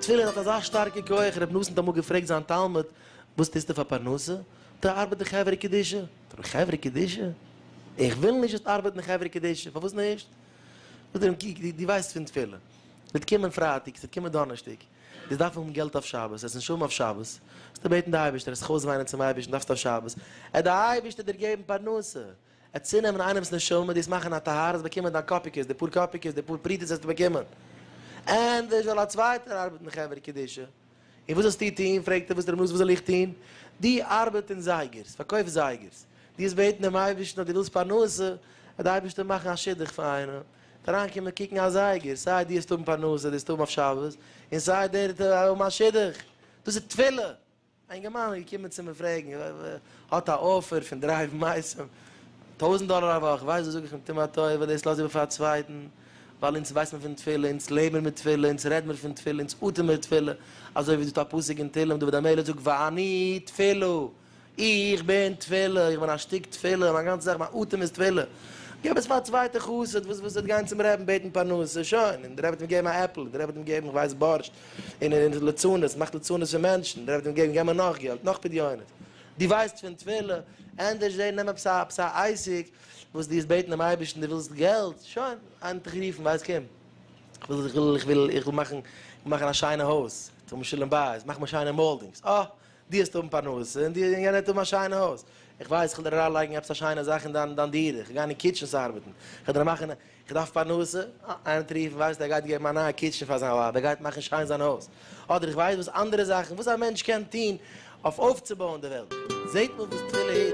תפילין האט אזא שטארקע כח, רבי נתן האט אמאל געפרעגט זיין תלמיד, וואס טוסטו פאר פרנסה? טא ארבעט די חברה קדישא. טא די חברה קדישא? איך וויל נישט זאלסט ארבעטן די חברה קדישא, פארוואס נישט? זאגט ער אים קוק, דו ווייסט פון תפילה, ס'וועט קומען פרייטאג, ס'וועט קומען דאנערשטאג, דאס דארף האבן געלט אויף שבת, עס איז נישט האבן אויף שבת, דארפסטו בעטן די אייבערשטער, עס זיך אויסוויינען צום אייבערשטן דארפסטו אויף שבת, עט די אייבערשטער דיר געבן פרנסה, עט צונעמען איינעמס נשמה, דיר עס מאכן א טהרה, עס באקומען דיין קאפיקעס, די פאר קאפיקעס, די פאר פרוטות וועסטו באקומען, ענדערש זאל א צווייטער ארבעטן חברה קדישא, און וואס זאלסטו טון, פרעגט ער וואס רבי נאס וואס זאל איך טון, דו ארבעט אין זייגערס, פארקויף זייגערס, דו האסט בעטן דעם אייבערשטן אז דו ווילסט פרנסה, עט די אייבערשטער מאכן א שידוך פאר איינעם. אריינקומען קוקן א זייגער, סיי דו האסט האבן פרנסה, דו האסט האבן אויף שבת, און סיי דער האט האבן א שידוך. דאס איז תפילה. א אינגערמאן איז געקומען צו מיר פרעגן, האט א אפער פון דרייוון מייסם, טויזנט דאלער א וואך, ווייסט וואס זאג איך אים, טו מיר א טובה, דאס לאז איבער פאר א צווייטן, ווייל אונז ווייס מיר פון תפילה, אונז לעב מיר מיט תפילה, אונז רעד מיר פון תפילה, אונז אטעם מיר תפילה, אזוי ווי דא שטייט א פסוק אין תהלים, דוד המלך זאגט ואני תפלו. איך בין תפלה, איך בין א שטיק תפלה, מיין גאנצע זאך, מיין אטעם איז תפלה. געב עס פאר א צווייטע חסיד וואס וואס וועט גיין צום רעבן בעטן פרנסה, שוין, און דער רבי וועט אים געבן א עפל, און דער רבי וועט אים געבן כ'ווייס בארשט, און ער איז לצנות, מאכט לצנות פון מענטשן, און דער רבי וועט אים געבן, געב מיר נאך געלט, נאך פדיונות. דו ווייסט פון תפלה? ענדערש זע נעם עפעס א עפעס א עסק וואס דו וועסט בעטן דעם אייבערשטן, דו ווילסט געלט, שוין, איינער האט דיך גערופן, ווייסט קום, כ'וויל כ'וויל כ'וויל איך וויל מאכן, איך וויל מאכן א שיינע הויז, כ'וויל מיר שלום בית, מאך מיר שיינע מאלדינגס, אה, דו וועסט האבן פרנסה און דו און יענער וועט האבן א שיינע הויז. איך ווייס, איך וועל דיר אריינלייגן עפעס א שיינע זאך אין דיין דיין דירה, איך גיי אין קיטשענס ארבעטן, איך וועל דיר מאכן, איך דארף פרנסה, אה, איינער האט גערופן, ווייסט ער גייט געבן א נייע קיטשען פאר זיין ווייב, ער גייט מאכן שיין זיין הויז, אדער איך ווייס וואס אנדערע זאכן וואס א מענטש קען טון אויף אויפצובויען די וועלט. זעט מען וואס תפילה איז.